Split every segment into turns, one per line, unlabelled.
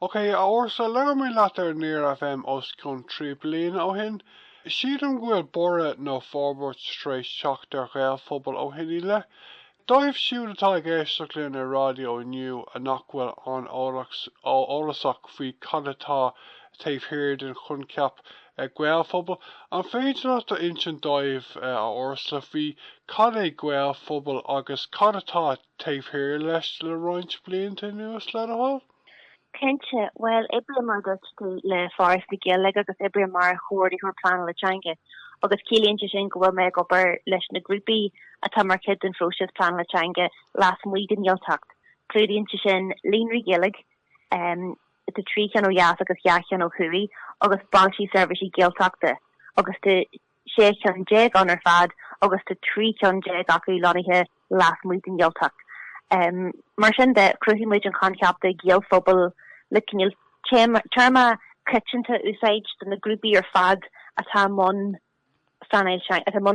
Ok, a Ursula, labhair mé leat ar Near FM os cionn trí bliain ó shin. Sílim go bhfuil borradh nó forbairt tar éis teacht ar Ghaelphobal ó shin i leith. Dóibh siúd atá ag éisteacht linn ar raidió inniu a nach bhfuil an-eolasach faoi cad atá taobh thiar den choincheap 'Gaelphobal', an féidir leat a insint dóibh, a Ursula, faoi cad é Gaelphobal agus cad atá taobh thiar leis le roinnt blianta anuas, le do thoil?
Cinnte. Bhuel, oibrím, mar a dúirt tú, le Foras na Gaeilge agus oibrím mar Chomhordaitheoir Pleanála Teanga agus ciallaíonn sé sin go bhfuil mé ag obair leis na grúpaí atá mar chuid den phróiseas pleanála teanga lasmuigh den Ghaeltacht. Clúdaíonn sé sin líonraí Gaeilge, tá trí cheann ó dheas agus dhá cheann ó thuaidh, agus bailte seirbhíse Gaeltachta agus tá 16 cheann ann ar fad agus tá 13 cheann acu lonnaithe lasmuigh den Ghaeltacht. Mar sin de, chruthaigh muid an coincheap de Ghaelphobal le cineál téarma coitianta a úsáid do na grúpaí ar fad atá i mbun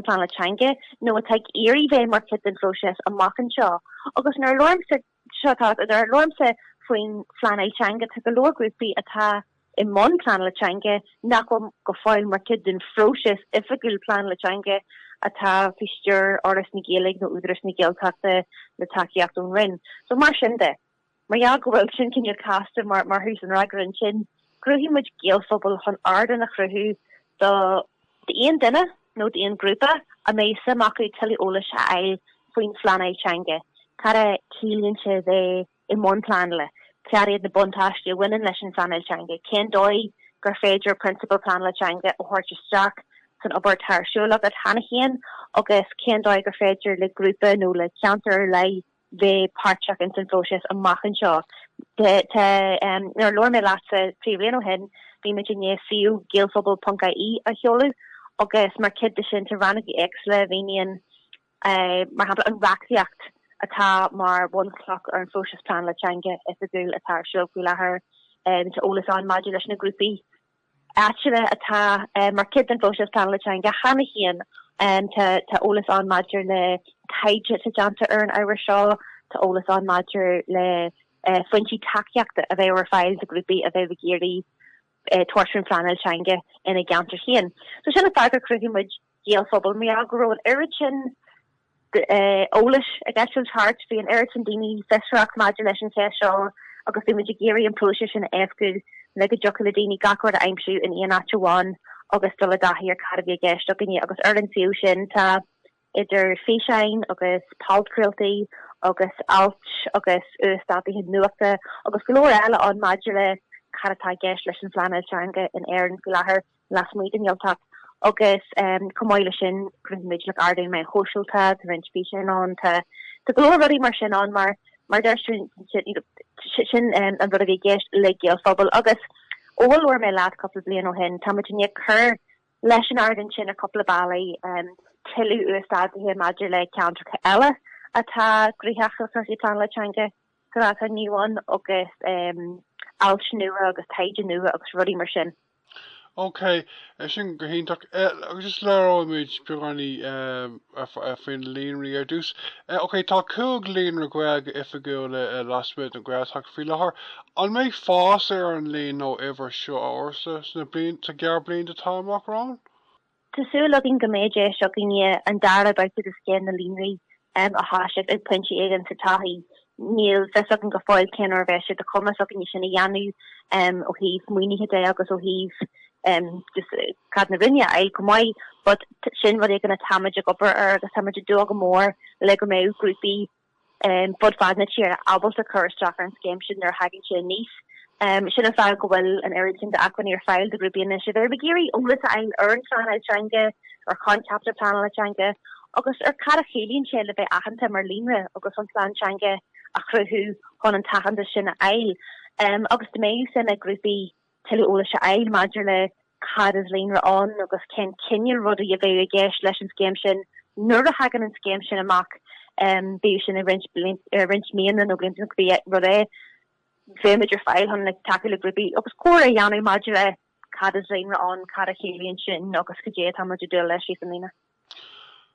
pleanála teanga nó atá ag iarraidh bheith mar chuid den phróiseas amach anseo agus nuair a labhraímse Seo tá nuair a labhraímse faoin phleanáil teanga, tá go leor grúpaí atá i mbun pleanála teanga nach bhfuil go fóill mar chuid den phróiseas oifigiúil pleanála teanga atá faoi stiúir Fhoras na Gaeilge nó Údarás na Gaeltachta le tacaíocht ón Roinn. So mar sin de, mar gheall go bhfuil sin cineál casta mar thús an fhreagra ansin, Chruthaigh muid Gaelphobal chun ardán a chruthú do d'aon duine nó d'aon ghrúpa a mbeadh suim acu tuilleadh eolais a fháil faoin phleanáil teanga, cad a chiallaíonn sé a bheith i mbun pleanála, cad iad na buntáistí a bhaineann leis an phleanáil teanga, cén dóigh gur féidir prionsabail pleanála teanga a thabhairt isteach san obair atá ar siúl agat cheana féin agus cén dóigh gur féidir le grúpa nó le ceantar ar leith bheith páirteach insan phróiseas amach anseo. Tá, nuair a labhair mé leatsa trí bhliain ó shin, bhí muid i ndiaidh suíomh gaelphobal.ie a sheoladh agus mar chuid de sin tá rannóga éagsúla a mhíníonn, mar shampla, an reachtaíocht atá mar bhunchloch ar an phróiseas pleanála teanga oifigiúil atá ar siúl faoi láthair. Tá eolas ann maidir leis na grúpaí áitiúla atá mar chuid den phróiseas pleanála teanga cheana féin. Tá eolas ann maidir le taighde atá déanta ar an ábhar seo, tá eolas ann maidir le foinsí tacaíochta a bheadh ar fáil do ghrúpaí a bheadh ag iarraidh tabhairt faoin phleanáil teanga ina gceantar féin. So sin an fáth gur chruthaigh muid. Gaelphobal mar go raibh an oiread sin eolais ag eitilt thart, bhí an oiread sin daoine fiosrach maidir leis an cheist seo agus bhí muid ag iarraidh an próiseas sin a éascú le go dtiocfadh le daoine gach rud a aimsiú in aon áit amháin agus dul i dtaithí ar cad a bhí i gceist againne agus ar an suíomh sin tá idir físeáin agus podchraoltaí agus ailt agus uasdátaithe nuachta agus go leor eile ann maidir le cad atá i gceist leis an phleanáil teanga in Éirinn faoi láthair. lasmuigh den Ghaeltacht agus chomh maith leis sin chruthaigh muid like ardáin mheán sóisialta, tá roinnt físeán ann, tá tá go leor rudaí mar sin ann mar mar deir sin you know sin an rud a bhí i gceist le Gaelphobal agus ó a labhair mé leat cúpla bliain ó shin táimid i ndiaidh cur leis an ardán sin ar chúpla bealaí, tuilleadh uasdátaithe maidir le ceantracha eile atá gnóthach le cúrsaí pleanála teanga. ní amháin agus ailt nua agus taighde nua agus rudaí mar sin. Ok,
sin go hiontach. Just labhróimid beagáinín faoi na líonraí ar dtús. Ok, tá cúig líonra Gaeilge oifigiúla lasmuigh den Ghaeltacht faoi láthair. An mbeidh fás ar an líon nó uimhir seo a Ursula sna gearrbhlianta atá amach romhainn? Tá
súil againn go mbeidh deis againne an dara babhta de Scéim na Líonraí a thoiseacht ag pointe éigin sa todhchaí. Níl a fhios againn go fóill cén uair a bheidh sé de chumas againne sin a dhéanamh ó thaobh maoinithe de agus ó thaobh just cead na Roinne a fháil chomh maith but sin rud éigin atáimid ag obair air agus táimid ag dúil go mór le go mbeidh grúpaí fud fad na tíre ábalta cur isteach ar an scéim sin nuair a thagann sé aníos. Sin an fáth go bhfuil an oiread sin d'acmhainní ar fáil do ghrúpaí anois, i bhfeidhm má tá siad ag iarraidh eolas a fháil ar an phleanáil teanga, ar choincheapa pleanála teanga agus ar cad a chiallaíonn sé le bheith aitheanta mar líonra agus an plean teanga a chruthú chun an t-aitheantas sin a fháil agus go mbeidh suim ag grúpaí tuilleadh eolais a fháil maidir le cad is líonra ann agus cén cineál rudaí a bheadh i gceist leis an scéim sin nuair a thagann an scéim sin amach, bíodh sin i roinnt míonna nó blianta nó cibé rud é. Bheimid ar fáil chun tacú le grúpaí agus comhrá a dhéanamh maidir le cad is líonra ann, cad a chiallaíonn sin agus cad é atáimid ag dúil leis síos an líne.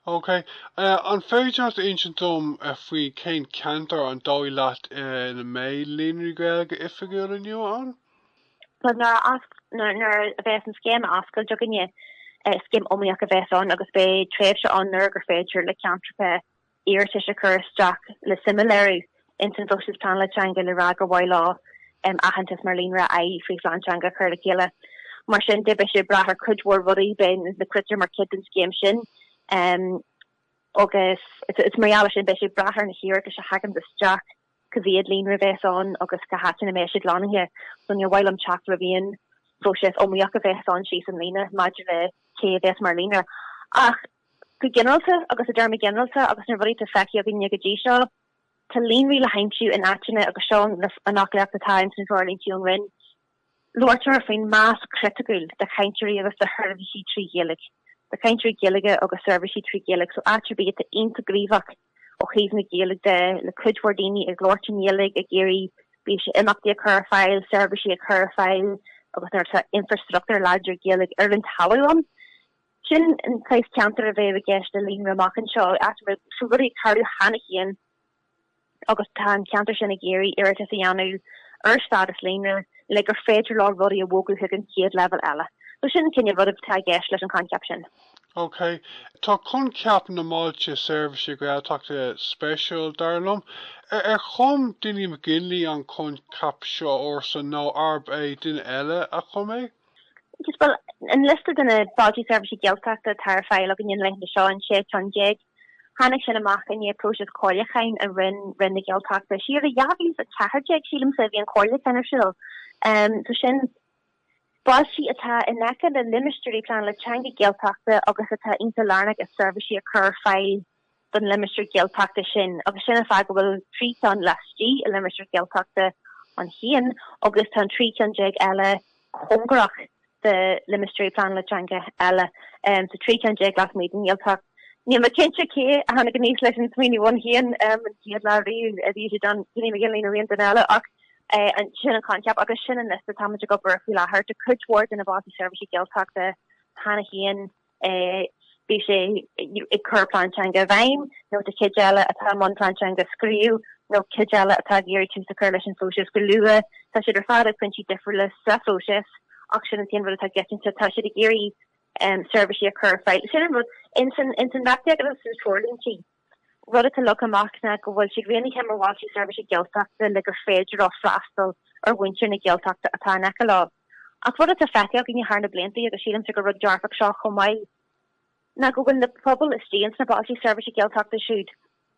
OK. An féidir leat insint dom faoi cén ceantar an dóigh leat ina mbeidh Líonraí Gaeilge oifigiúil inniu ann?
So, nuair a bheas an scéim oscailte againne, scéim iomaíoch a bheas ann agus beidh tréimhse ann nuair gur féidir le ceantracha, iarratais a chur isteach le suim a léiriú ins an phróiseas pleanála teanga le rá gur mhaith leo aitheantas mar líonra a fháil fríd phlean teanga a chur le chéile. Mar sin de, beidh sé ag brath ar cuid mhór rudaí, beidh na critéir mar chuid den scéim sin agus is mar gheall ar sin beidh sé ag brath ar na hiarratais a thaganns isteach cá mhéad líonra a bheas ann agus cá háit ina mbeidh siad lonnaithe. So níor mhaith liom teacht roimh aon phróiseas iomaíoch a bheas ann síos an líne maidir le cé a bheas mar líonra ach Go ginearalta, agus i dtéarmaí ginearalta agus na rudaí atá feicthe againne go dtí seo, tá líonraí le haimsiú in áiteanna agus seo an fhoclaíocht atá ins na treoirlíntí ón Roinn. Labhairtear faoin mais chriticiúil de chainteoirí agus de sheirbhísí trí Ghaeilge, de chainteoirí Gaeilge agus seirbhísí trí Ghaeilge so áit ar bith atá iontach gníomhach ó thaobh na Gaeilge de le cuid mhór daoine ag labhairt na Gaeilge, ag iarraidh, bíodh sé imeachtaí a chur ar fáil, seirbhísí a chur ar fáil agus nuair atá infreastruchtúr láidir Gaeilge ar an talamh ann. Sin an saghas ceantair a bheidh i gceist le líonra amach anseo, áit a bhfuil rudaí ag tarlú cheana féin agus tá an ceantar sin ag iarraidh iarratas a dhéanamh ar stádas líonra le gur féidir leo rudaí a bhogadh chuig an chéad leibhéal eile. So sin an cineál rud atá i gceist leis an choincheap sin.
Ok. Tá coincheap na mBailte Seirbhíse Gaeltachta speisiúil, dar liom. Ar chum Dinny McGinley an coincheap seo, ársa, nó arb é duine eile a chum é? Just
bhuel, an liosta de na Bailtí Seirbhíse Gaeltachta atá ar fáil againn na laethanta seo, an sé cheann déag. Tháinig sin amach i ndiaidh próisis comhairliúcháin a rinne Roinn na Gaeltachta. Siar i 2014, sílimse, a bhí an comhairliúchán ar siúl. So sin bailtí atá in aice le limistéirí pleanála teanga Gaeltachta agus atá iontach lárnach i seirbhísí a chur ar fáil do na limistéirí Gaeltachta sin agus sin an fáth go bhfuil trí cheann laistigh de limistéirí Gaeltachta ann féin agus tá an trí cheann déag eile cóngarach do limistéirí pleanála teanga eile. So trí cheann déag lasmuigh den Ghaeltacht. Níl mé cinnte cé a tháinig aníos leis an smaoineamh ann féin an chéad lá riamh bíodh sé Dinny McGinley nó aon duine eile ach sin an coincheap agus sin an liosta táimid ag obair air faoi láthair. Tá cuid mhór de na Bailtí Seirbhíse Gaeltachta cheana féin. bíodh sé ag cur plean teanga i bhfeidhm nó tá cuid eile atá i mbun plean teanga a scríobh nó cuid eile atá ag iarraidh tús a chur leis an phróiseas go luath. Tá siad ar fad ag pointí difriúla sa phróiseas ach sin an t-aon rud atá i gcoitinne. Tá siad ag iarraidh seirbhísí a chur ar fáil. Ins an reachtaíocht agus sna treoirlíntí, rud atá leagtha amach ná go bhfuil siad roghnaithe mar Bhailtí Seirbhíse Gaeltachta le gur féidir leo freastal ar mhuintir na Gaeltachta atá in aice leo. Ach rud atá feicthe againne thar na blianta, agus sílimse gur rud dearfach seo chomh maith, ná go bhfuil na pobail istigh ins na Bailtí Seirbhíse Gaeltachta siúd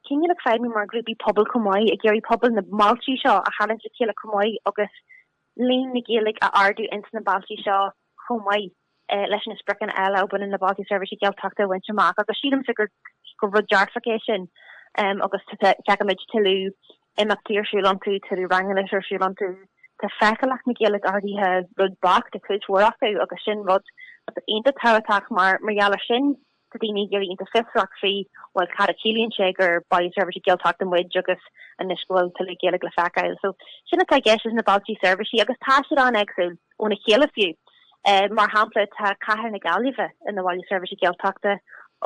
cineál ag feidhmiú mar ghrúpaí pobail chomh maith, ag iarraidh pobail na mbailtí seo a tharraingt le chéile chomh maith agus líon na Gaeilge a ardú ins na bailte seo chomh maith leis na spriocanna eile a bhaineann le Bailte Seirbhíse Gaeltachta a bhaint amach agus sílimsa gur rud dearfach é sin agus tchífidh muid tuilleadh imeachtaí ar siúl iontu, tuilleadh ranganna ar siúl iontu. Tá feiceálacht na Gaeilge ardaithe rud beag i gcuid mhór acu agus sin rud iontach tábhachtach mar gheall air sin, tá daoine ag éirí iontach fiosrach faoi bhuel cad a chiallaíonn sé gur Baile Seirbhíse Gaeltachta muid agus anois go bhfuil tuilleadh Gaeilge le feiceáil. So sin atá i gceist leis na bailte seirbhíse agus tá siad an-eagsúil óna chéile fiú. Mar shampla tá cathair na Gaillimhe ina bhaile seirbhíse Gaeltachta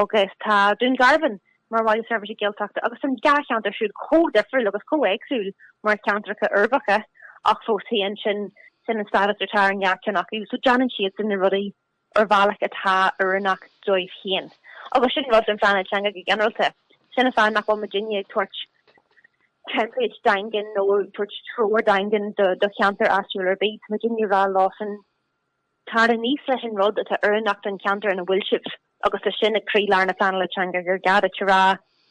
agus tá Dún Garbhán mar bhaile seirbhíse Gaeltachta agus an dhá cheantar siúd chomh difriúil agus chomh éagsúil mar cheantracha uirbeacha ach fós féin sin sin an stádas atá ar an dá cheann acu. So déanann siadsan na rudaí ar bhealach atá oiriúnach dóibh féin. Agus sin rud don phleanáil teanga go ginearálta. Sin an fáth nach bhfuil muidinne ag tabhairt template daingean nó ag tabhairt treoir daingean do cheantar áitiúil ar bith. Tá muidinne ag rá leosan, tar aníos leis an rud atá oiriúnach don cheantar ina bhfuil sibh. Agus tá sin ag croílár na pleanála teanga gur gá duit a rá,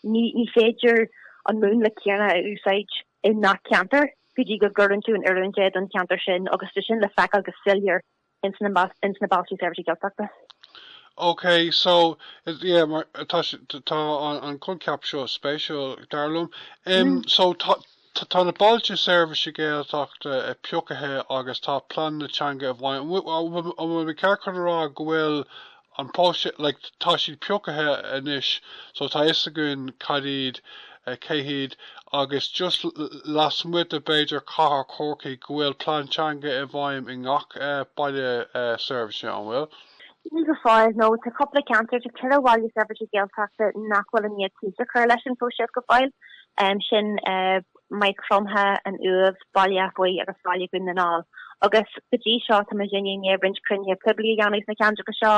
ní féidir an múnla céanna a úsáid i ngach ceantar go dtí go gcuireann tú in oiriúint é don cheantar sin agus tá sin le feiceáil go soiléir ins na Bailte
Seirbhíse Gaeltachta. OK, so, yeah, mar tá tá an coincheap seo spéisiúil dar liom. Um, so, tá na bailte seirbhíse Gaeltachta e piocaithe agus tá pleananna teanga i bhfeidhm. Bhfuil mé ceart chun a rá go bhfuil an próiseas like tá siad piocaithe anois so tá fhios againn cad iad cé hiad agus just lasmuigh de b'fhéidir cathair Chorcaí go bhfuil plean teanga i bhfeidhm i ngach baile seirbhíse an bhfuil? Níl go
fóill nó tá cúpla ceantar tá ceithre bhaile seirbhíse Gaeltachta nach bhfuil i ndiaidh tús a chur leis an phróiseas go fóill sin Maigh Chromtha, an Uaimh, Baile Átha Buí agus Baile Dhún na nGall. Agus go dtí seo tá muid i ndiaidh roinnt cruinnithe poiblí a dhéanamh sna ceantracha seo,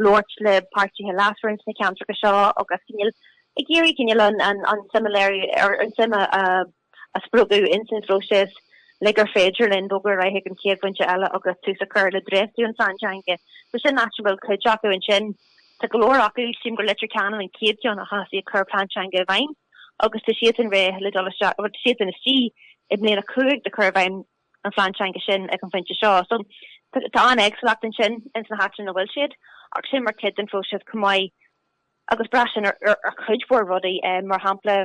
labhairt le páirtithe leasmhara sna ceantracha seo agus cineál ag iarraidh cineál an tsuim a léiriú ar an tsuim a spreagadh in san phróiseas le gur féidir linn bogadh ar aghaidh ag an chéad phointe eile agus tús a chur le dréachtú an phlean teanga. So sin áit a bhfuil cuid acu ansin. Tá go leor acu, sílim gur Leitir Ceanainn an chéad cheann a thosaigh ag cur plean teanga i bhfeidhm. agus tá siadsan réidh le dul isteach, bhuel, tá siadsan istigh i mBliain 5 de chur i bhfeidhm an Phlean Teanga sin ag an phointe seo. So, tá an-éagsúlacht ansin ins na háiteanna ina bhfuil siad, ach sin mar chuid den phróiseas chomh maith agus braitheann sin ar chuid mhór rudaí. Mar shampla,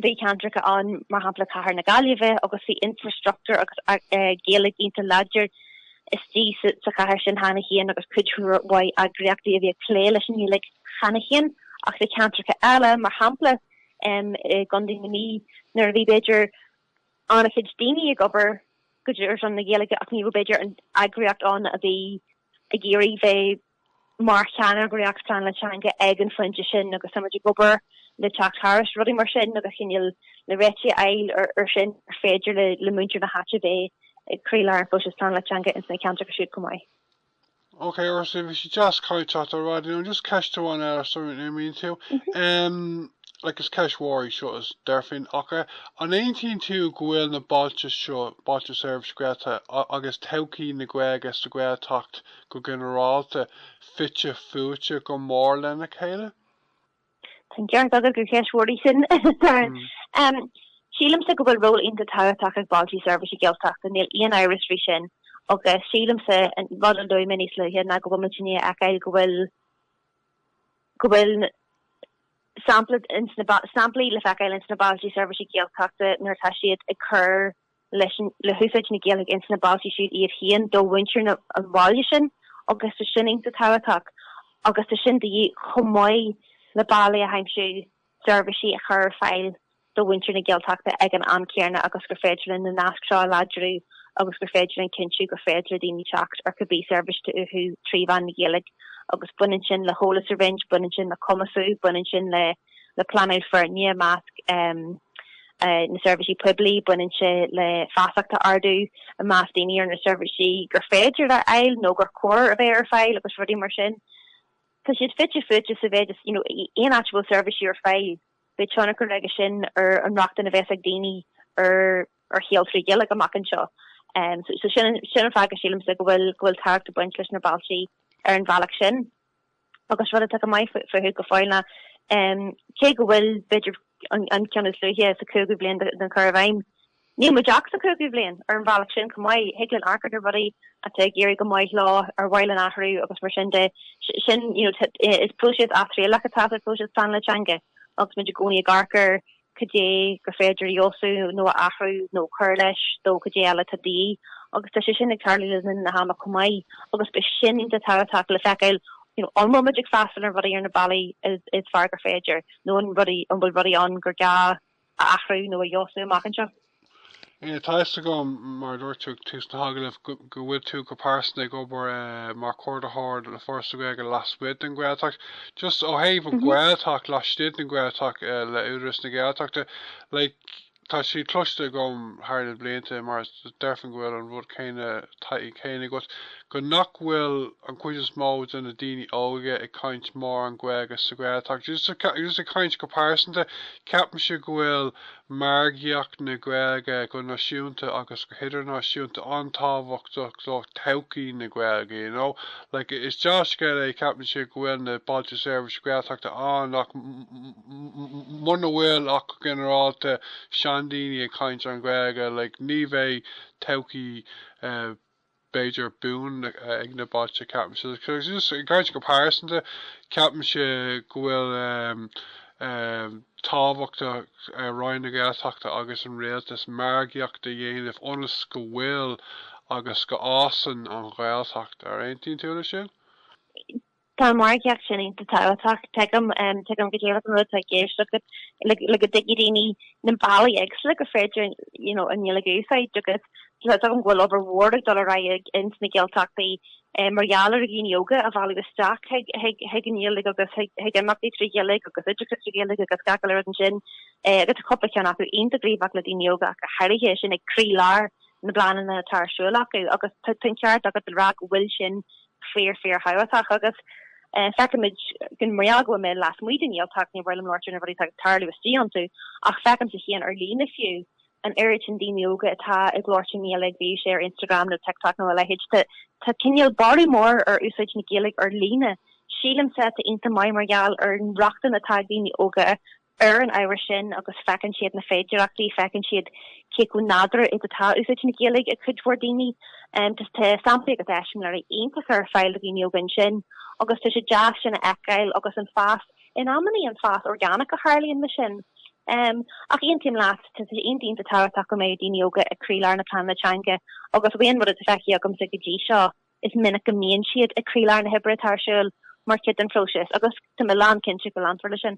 bhí ceantracha ann, mar shampla Cathair na Gaillimhe, agus bhí infreastruchtúr agus Gaeilge iontach láidir istigh sa chathair sin cheana féin agus cuid mhaith eagraíochtaí a bhí ag plé leis an nGaeilge cheana féin ach sna ceantracha eile mar shampla i gcontae na Mí nuair a bhí b'fhéidir an-chuid daoine ag obair go dtí seo ar son na Gaeilge ach ní raibh b'fhéidir an eagraíocht ann a bhí ag iarraidh bheith mar cheannaire Gaeltachta pleanála teanga ag an phointe sin agus táimid ag obair le teacht thairis rudaí mar sin agus cineál na réitigh a fháil air sin ar féidir le muintir na háite bheith ag croílár an phróisis pleanála teanga ins na ceantracha siúd chomh maith. Ok,
Ursula, bhí sé deas caint leat inniu just ceist amháin eile sula n-imíonn tú. Like is ceist mhór í seo is deirfinn ach an aontaíonn tú go bhfuil na bailte seo, bailte seirbhíse Gaeltachta agus todhchaí na Gaeilge sa Ghaeltacht, go ginearálta, fite fuaite go mór lena chéile. Tá
an ceart agat gur cheist mhór í sin, Darren. Sílimse go bhfuil ról iontach tábhachtach ag bailte seirbhíse Gaeltachta, níl aon amhras faoi sin, agus sílimse, an rud a luaigh mé níos luaithe, ná go bhfuil muid i ndiaidh a fheiceáil go bhfuil, go bhfuil sampla, samplaí le feiceáil ins na bailte seirbhíse Gaeltachta nuair atá siad ag cur leis le húsáid na Gaeilge ins na bailte siúd iad féin do mhuintir na an bhaile sin agus tá sin iontach tábhachtach agus tá sin de dhíth chomh maith le bealaí a aimsiú seirbhísí a chur ar fáil do mhuintir na Gaeltachta ag an am céanna agus gur féidir linn na naisc seo a láidriú agus gur féidir linn cinntiú gur féidir le daoine teacht ar cibé seirbhísí uathu trí mheán na Gaeilge agus baineann sin le heolas a roinnt, baineann sin le cumasú, baineann sin le le pleanáil foirne i measc na seirbhísí poiblí. Baineann sé le feasacht a ardú i measc daoine ar na seirbhísí gur féidir a fháil nó gur chóir a bheith ar fáil agus rudaí mar sin. Tá siad fite fuaite sa mhéid is aon áit a bhfuil seirbhísí ar fáil, beidh tionchar aige sin ar an rochtain a bheas ag daoine ar shaol trí Ghaeilge amach anseo. So sin an fáth go sílimse go bhfuil go bhfuil tábhacht ag baint leis na bailte ar an bhealach sin. agus rud atá go maith fúthu go fóill ná cé go bhfuil b'fhéidir an ceann is luaithe sa 5ú bhliain den chur i bhfeidhm, níl muid ach sa 5ú bhliain ar an bhealach sin chomh maith. Thig linn amharc ar na rudaí atá ag éirí go maith leo nó ar mhaith linn athrú agus mar sin de. Sin, you know, is próiseas atriallach atá sa phróiseas pleanála teanga agus muid i gcónaí ag amharc ar caidé gur féidir a fheabhsú nó a athrú nó cur leis, nó caidé eile atá de dhíth, agus tá sé sin ag tarlú le linn na hama chomh maith, agus beidh sin iontach tábhachtach le feiceáil, you know, an bhfuil muid ag freastal ar rudaí ar na bealaí is fearr gur féidir, nó an rudaí an bhfuil rudaí ann gur gá a athrú nó a fheabhsú amach anseo. Tá a
fhios agam, mar a dúirt tú ag tús na hagallaimh, go bhfuil tú go pearsanta ag obair mar chomhordaitheoir le Foras na Gaeilge lasmuigh den Ghaeltacht. Just ó thaobh an Ghaeltacht laistigh den Ghaeltacht le hÚdarás na Gaeltachta, like, tá sé cloiste agam thar na blianta, mar deirfinn go bhfuil an rud céanna, taithí céanna agat, nach bhfuil an chuid is mó de na daoine óige ag caint mórán Gaeilge sa Ghaeltacht. Just ag caint go pearsanta, ceapaimse go bhfuil margaíocht na Gaeilge go náisiúnta agus go hidirnáisiúnta an-tábhachtach do thodhchaí na Gaeilge you know like is deá-scéal é ceapaimse go bhfuil na Bailte Seirbhíse Gaeltachta ann ach muna bhfuil ach go ginearálta seandaoine ag caint an Ghaeilge like ní bheidh todhchaí eh b'fhéidir, buan ag na bailte. Ceapaimse, just i gcaint go pearsanta, ceapaimse go bhfuil sé tábhachtach do Roinn na Gaeltachta agus an Rialtas margaíocht a dhéanamh ionas go bhfuil agus go fhásann an Ghaeltacht. An aontaíonn tú leis sin?
Tá an mhargaíocht sin iontach tábhachtach, tuigim, tuigim go díreach an rud atá ag éisteacht agat, le go dtuigfidh daoine na bealaí éagsúla gur féidir, you know, an Ghaeilge a úsáid agus tuigim go bhfuil obair mhór ag dul ar aghaidh ins na Gaeltachtaí mar gheall ar dhaoine óga a mhealladh isteach chuig an Ghaeilge agus chuig imeachtaí trí Ghaeilge agus oideachas trí Ghaeilge agus gach uile rud ansin agus tá cúpla ceann acu iontach gníomhach le daoine óga ach go háirithe is é sin ag croílár na bpleananna atá ar siúl acu agus tá an ceart agat le rá go bhfuil sin Fíor fíorthábhachtach agus feicimid gan bréag tá mé lasmuigh den nGaeltacht, ní féidir liom labhairt ar na rudaí atá ag tarlú istigh iontu, ach feicimse féin ar líne fiú, an oiread sin daoine óga atá ag labhairt Gaeilge, bíodh sé ar Instagram nó TikTok nó a leithéid. Tá cineál borradh mór ar úsáid na Gaeilge ar líne, sílimse, atá iontach maith mar gheall ar an rochtain atá ag daoine óga Ar an ábhar sin, agus feiceann siad na féidearachtaí, feiceann siad cé chomh nádúrtha is atá úsáid na Gaeilge ag cuid mhór daoine. Tá samplaí agus eiseamláirí iontacha ar fáil do dhaoine óga ansin agus tá sé deas sin a fheiceáil agus an fás, in amannaí an fás orgánach a tharlaíonn leis sin. Ach aontaím leat, tá sé iontach tábhachtach go mbeidh daoine óga ag croílár na pleanála teanga agus bhuel ón rud atá feicthe agamsa go dtí seo, Is minic go mbíonn siad ag croílár na hoibre atá ar siúl mar chuid den phróiseas agus tá mé lánchinnte go leanfar leis sin.